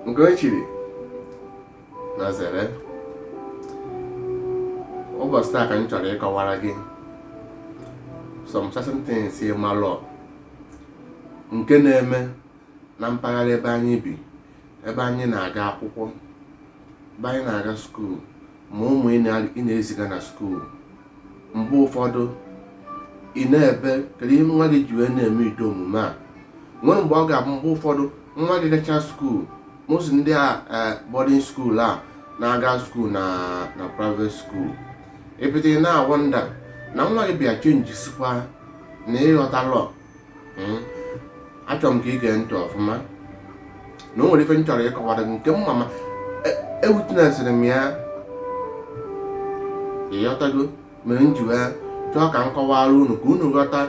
nke onye chiri nya zere ụbọchị taa ka m chọrọ ịkọwara gị some certain things ị malọ nke na-eme na mpaghara ebe anyị bi ebe anyị na-aga akwụkwọ ebe anyị na-aga skuul ma ụmụ ị na-eziga na skuul mgbe ụfọdụ ị na-ebe kedu ihe nwa gị ji wee na-eme ụdị omume a nwere mgbe ọ ga-abụ mgbe ụfọdụ nwa gị gacha skuul most ndị a eh, boarding skuul a na-aga skuul na na private skuul i bido ị na-awọnda na nwa gị bịa chenjisikwa na ị ghọtalọ hmm? achọrọ m ka ị gee ntị ọfụma na o nwere ife m chọrọ ịkọwara gị nke mma ma ewitnesịrị m ya ị ghọtago mere m ji wee chọọ ka m kọwara unu ka unu ghọta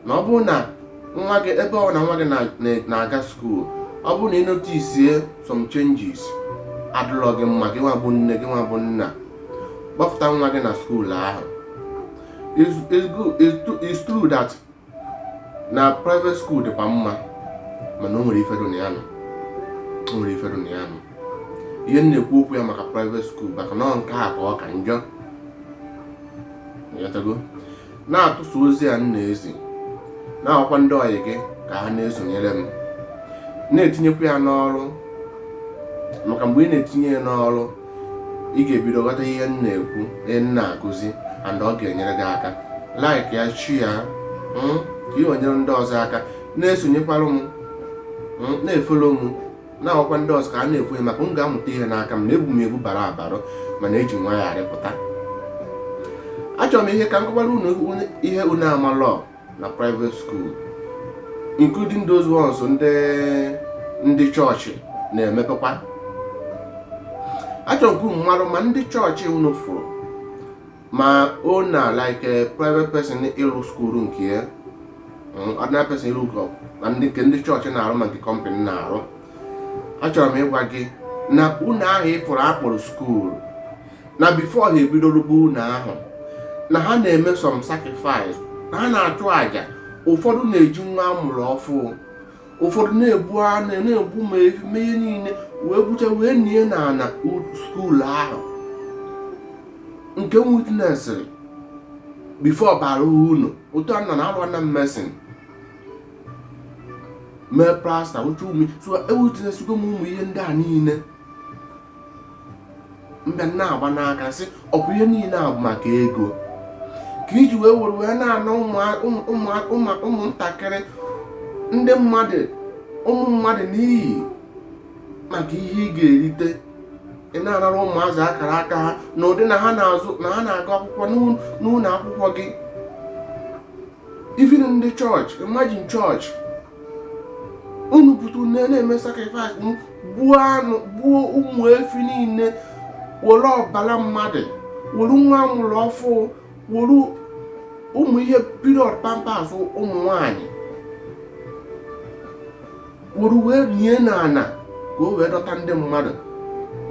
na ọ bụrụ na nwa gị ebe ọ na nwa gị na-aga skuul ọ bụrụ na ị notisie some changes adịrọ gị mma gị nwa bụ nne gị nwa bụ nna kpọpụta nwa gị na skuul ahụ is is good is true is true that na private school dịkwa mma mana o nwere ife dị na ya nọ o nwere ife dị na ya nọ ihe m na-ekwu okwu ya maka private school maka na ọ nke a ka ọ ka njọ Ị ghọtago? na-atụsa ozi a m na-ezi na-agwakwa ndị ọyị gị ka ha na-esonyere m na-etinyekwa ya n'ọrụ maka mgbe ị na-etinye ya n'ọrụ ị ga-ebido ghọta ihe m na-ekwu ihe m na-akụzi and ọ ga-enyere gị aka like ya share ya hmm, ka o nyere ndị ọzọ aka na-esonyekwara m hmm, na-efolo m na-agwakwa ndị ọzọ ka a na-ekwu maka ị ga-amụta ihe n'aka m na ebu m ebu bara abara mana eji nwayọ arịpụta achọrọ m ihe ka m kọwara unu ihe unu amalọ na private school including those ones ndị ndị chọọchị na-emepekwa achọrọ m ka unu marụ ma ndị chọọchị unu fụrụ ma ọ na like a private person ịrụ skuul nke ya mm, ordinary person ịrụ ụlọ na ndị nke ndị chọọchị na-arụ ma nke company na-arụ achọrọ m ịgwa gị na ụnọ ahụ ị fụrụ a kpọrọ skuul na before ha ebido rụbe ụnọ ahụ na ha na-eme some sacrifice na ha na-achụ àjà ụfọdụ na-eji nwa amụrụ ọfụụ ụfọdụ na-egbu anụ na-egbu ma efi mee ihe niile wee gbucha wee nie na ana skuul ahụ nke m witnesịrị before bara ụnọ otu a nọ na-alụ na mason mee plaster otu ume so ewitnesịgo m ụmụ ihe ndị a niile mbe na-agba n'aka sị ọ bụ ihe niile a bụ maka ego ka iji wee were wee na-ana ụmụntakịrị ndị mmadụ ụmụ mmadụ n'iyi maka ihe ị ga-erite ị na-anara ụmụazị akara aka ha na ụdị na ha na-azụ na ha na-agụ akwụkwọ n'ụlọ akwụkwọ gị even ndị chọọchị imagine chọọchị unu pụta unu na-eme sacrifice gbuo anụ gbuo ụmụ efi niile were ọbara mmadụ were nwa amụrụ ọfụ were ụmụ ihe period pampers ụmụ nwanyị were wee nie n'ana ka o wee dọta ndị mmadụ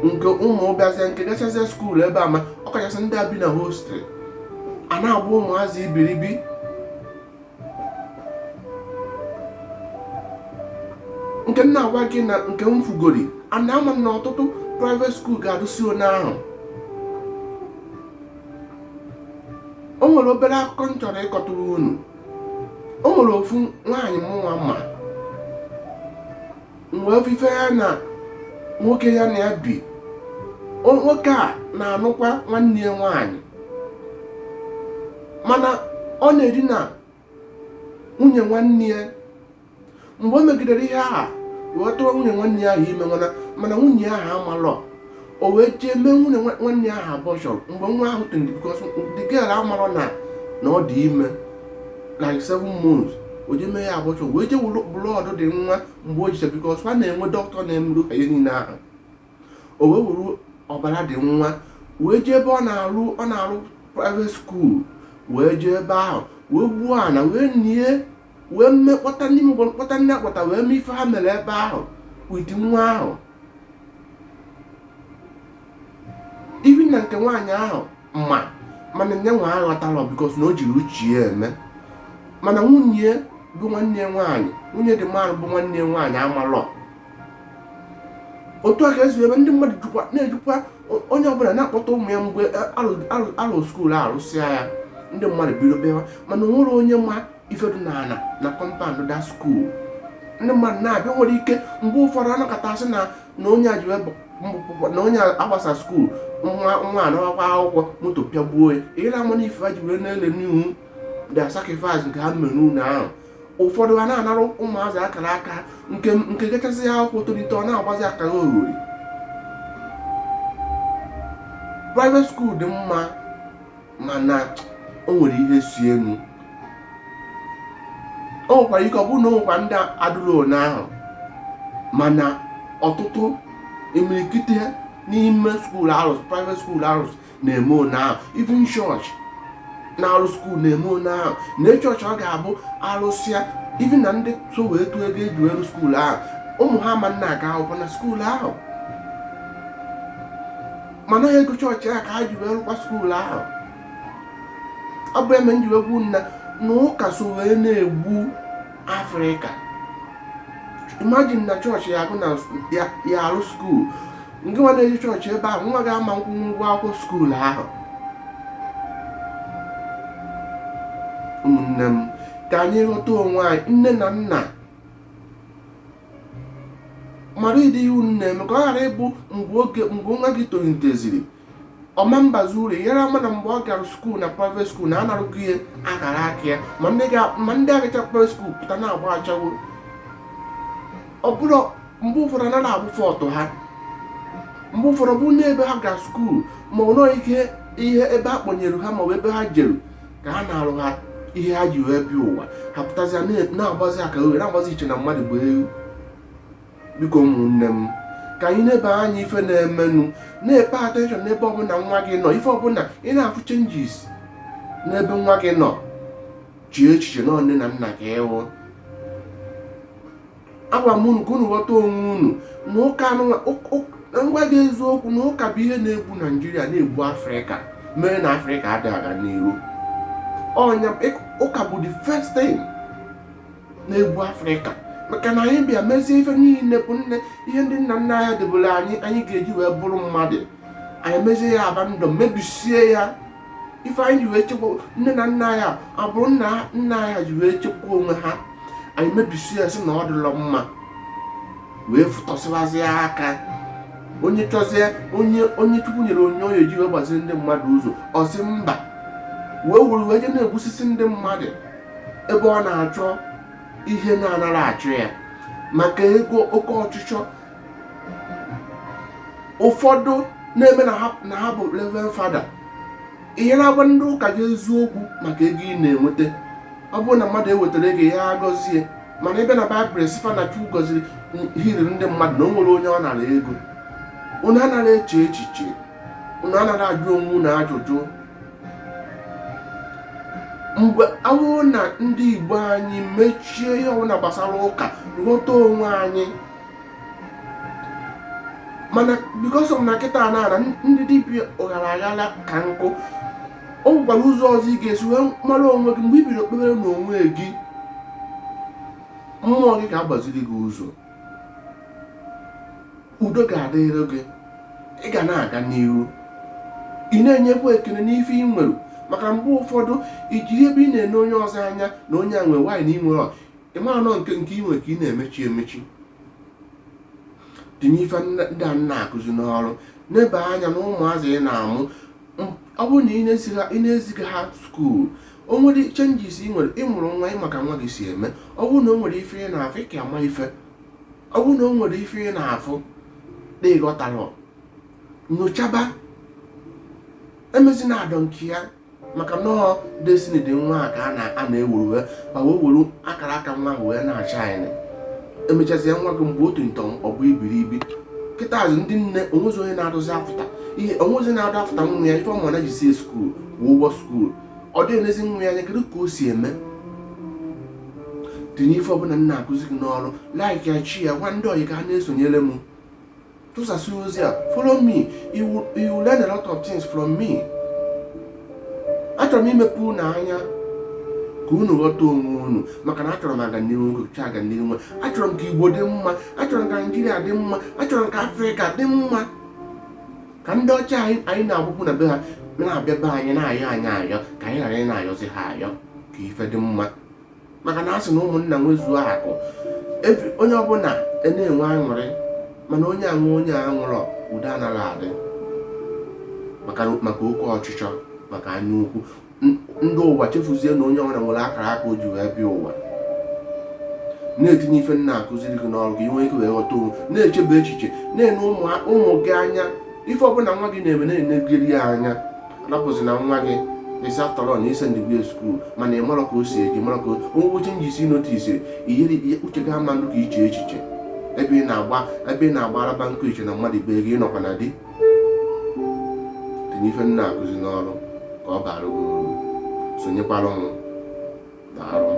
nke ụmụ bịazie nke gachazie school ebe a ma ọ kachasị ndị a bi na hostel a na-abụ ụmụazị iberibe nke m na-agwa gị na nke m fugori ana ama m na ọtụtụ private school ga-adụsi onye ahụ o nwere obere akụkọ m chọrọ ịkọtụrụ unu o nwere ofu nwaanyị mụnwa ma mgbe ofufe ya na nwoke ya na ya bi o- nwoke a na-anụkwa nwanne ya nwaanyị mana ọ na-edina nwunye nwanne ya mgbe o megidere ihe ahụ wee tụọ nwunye nwanne ya ahụ ime mana mana nwunye ahụ amalọ o wee jee mee nwunye nwanne ya ahụ abortion mgbe nwa ahụ tụrụ because the girl amarọ na na ọ dị ime like seven months o jee mee ya abortion wee jee weru blood the nwa mgbe o jicha because ha na-enwe dọkịta na-emerụ ha ihe niile ahụ o wee weru ọbara the nwa wee jee ebe ọ na-arụ ọ na-arụ private school wee jee ebe ahụ wee gbuo ana wee nie wee mme kpọta ndị mgbe kpọta ndị akpọta wee mee ife ha mere ebe ahụ with nwa ahụ even na nke nwaanyị ahụ ma mana nya nwa aghọtalọ because na o jirọ uche ya eme mana nwunye bụ nwanne nwaanyị nwunye the man bụ nwanne nwaanyị amalọ otu a ka e si ebe ndị mmadụ jikwa na-ejikwa onye ọbụla na-akpọta ụmụ ya mgbe a lụ school arụsịa ya ndị mmadụ bido bịawa mana o nwerọ onye ma ife dụ na ala na compound the school ndị mmadụ na-abịa nwere ike mgbe ụfọdụ anakọta asị na na onye a ji wee na onye agbasa school nwa nwa anawakwa akwụkwọ moto pịagbuo ya ịra ama na ife ha ji wee na-ele n'ihu the sacrifice nke ha mere n'ụlọ ahụ ụfọdụ a na-anara ụmụazị akara aka nke nke gachasịa akwụkwọ tolite ọ na-agbazi akaroghori private school dị mma mana o nwere ihe si enu o nwekwara ike ọ bụrụ na o nwekwa ndị adịrọ one ahụ mana ọtụtụ imirikite n'ime schools private schools na-eme one ahụ even chọọchị na-arụ skuul na-eme one ahụ na chọọchị ọ ga-abụ a rụsịa even na ndị so wee tụọ ego e ji wee rụ skuul ahụ ụmụ ha ama na-aga akwụkwọ na skuul ahụ mana ego chọọchị a ka ha ji wee rụkwa skuul ahụ ọ bụ ihe mere m ji wee gwa unu na ụka so wee na-egbu afrịka imagine na chọọchị ya agụ na ya arụ skuul ngị nwa na-eje chọọchị ebe ahụ nwa gị ama nkwụ ụgwọ akwụkwọ skuul ahụ ụmụnne m ka anyị ghọta onwe anyị nne na nna mara ụdị ihe unu na-eme ka ọ ghara ịbụ mgbe oge mgbe nwa gị toliteziri ọ ma mbazi uru ị yara ama na mgbe ọ gara skuul na private skuul na a narụgo ya akara aka ya ma ndị ga- ma ndị agacha private skuul pụta na-agba achaba ọ bụrụ mgbe ụfọdụ anaghị abụ fault ha mgbe ụfọdụ bụ n'ebe ha gara skuul ma ọ nọọ ike ihe ebe a kpọnyere ha ma ọ bụ ebe ha jeru ka a narụ ha ihe ha ji wee bịa ụwa ha pụtazịa na- na-agbazi akarogheri na-agbazi i che na mmadụ bụ ewu biko ụmụnne m ka anyị nebe anya ife na-emenụ na-epay attention n'ebe ọbụla nwa gị nọ ife ọbụla ị na-afụ changes n'ebe nwa gị nọ chee echiche na nne na nna ka ị wụ agwa m unu ka unu ghọta onwe unu nụ ka m gwa gị eziokwu na ụka bụ ihe na-egbu naijiria na-egbu afrịka mere na afrịka adịghị aga n'iru ụka bụ the first thing na-egbu afrịka maka na anyị bịa mezie ife niile bụ nne ihe ndị nna nna anyị debere anyị anyị ga-eji wee bụrụ mmadụ anyị mezie ya abandon mebisie ya ife anyị ji wee chekwa nne na nna anyị abụrụ nna nna anyị ji wee chekwa onwe ha anyị mebisie ya sị na ọ dịlọ mma wee fụtọsịwazi aka onye chọzie onye onye chukwu nyere onyinye ji wee gbazie ndị mmadụ ụzọ ọ sị mba wee were wee je na-egbusisi ndị mmadụ ebe ọ na-achọ ihe na-anara achọ ya maka ego oke ọchịchọ ụfọdụ na-eme na ha bụ reverend fada ị yara agwa ndị ụka gị eziokwu maka ego ị na-enweta ọ bụrụ na mmadụ ewetara ego ya agọzie mana ebee na baịbụl sị fa na chukwu gọziri healiri ndị mmadụ na o nwere onye ọ nara ego unu anaghị eche echiche unu anaghị ajụ onwe unu ajụjụ mgbe awụrụ na ndị igbo anyị mechie ihe ọbụla gbasara ụka ghọta onwe anyị mana because na kịta na ana ndị dibịa ụghara aghara ka nkụ o nwekwara ụzọ ọzọ ị ga-esi wee mara onwe gị mgbe i biri kpebere na onwe gị mmụọ gị ga-agbaziri gị ụzọ udo ga-adịrị gị ị ga na-aga n'ihu ị na-enyekwa ekele n'ife ị nwere maka mgbe ụfọdụ ijiri ebe ị na-ene onye ọzọ anya na onye a nwere nwaanyị na ị nwere ị marọ na nke nke ị nwere ka ị na-emechi emechi tinye ife ndị a na-akụzi n'ọrụ nebe anya na ụmụazị ị na-amụ ọ bụrụ na ị na-eziga ha skuul o nwere changes ị nwere ị mụrụ nwa ị ma ka nwa gị si eme ọ bụrụ na o nwere ife ị na-afụ ị ka ama ife ọ bụrụ na o nwere ife ị na-afụ na ị ghọtarọ nyochaba emezina I don't care maka na ọ destiny dị nwa a ka a na- a na-ewuru wee ma wee were akara aka nwa ahụ wee na-ashine e mechazia nwa gị mgbe otu ntọ ọ bụ iberibe kịta azụ ndị nne o nwezi onye na-adụzi afụta ihe o nwezi na-adụ afụta nwa ya ife ọmụ na jisi skuul kwụọ ụgwọ skuul ọ dịghị enezi nwa ya anya kedu ka o si eme tinye ife ọbụla m na-akụzi gị n'ọrụ like ya share ya gwa ndị ọyị ka ha na-esonyere m tụsasị ozi a follow me you will- you will learn a lot of things from me achọrọ m imepe unu anya ka unu ghọta onwe unu maka na achọrọ m aganihu nkocha aganihu nwe achọrọ m ka igbo dị mma achọrọ m ka naijiria dị mma achọrọ m ka afrịka dị mma ka ndị ọcha anyị na-agbakwu na be ha na-abịa be anyị na-ayọ anyị ayọ ka anyị ghara ịna-ayọzi ha ayọ ka ife dị mma maka na a sị na ụmụnna nwezuo akụ onye ọbụla e na-enwe aṅụrị mana onye aṅụ onye aṅụrọ udo anaghị adị maka oke ọchịchọ maka anya ukwu ndị ụwa chefuzie na onye ọbụla nwere akara aka o ji wee bịa ụwa na-etinye ife m na-akụziri gị n'ọrụ ka ị nwee ike wee ghọta onwe na-echebe echiche na-ene ụmụ gị anya ife ọbụla nwa gị na-eme na-enegiri ya anya rapụzi na nwa gị ịsa tọrọ na ise ndịgwe skuul mana ị marọ ka o si eje marọ ka o nwee changes ị notice iyeri uche gị ama ndụ ka iche echiche ebe ị na-agba ebe ị na-agba araba nkụ i che na mmadụ be gị ị nọkwa na di tinye ife m na-akụzi n'ọrụ ka ọ baara gị uru sonyekwara mụ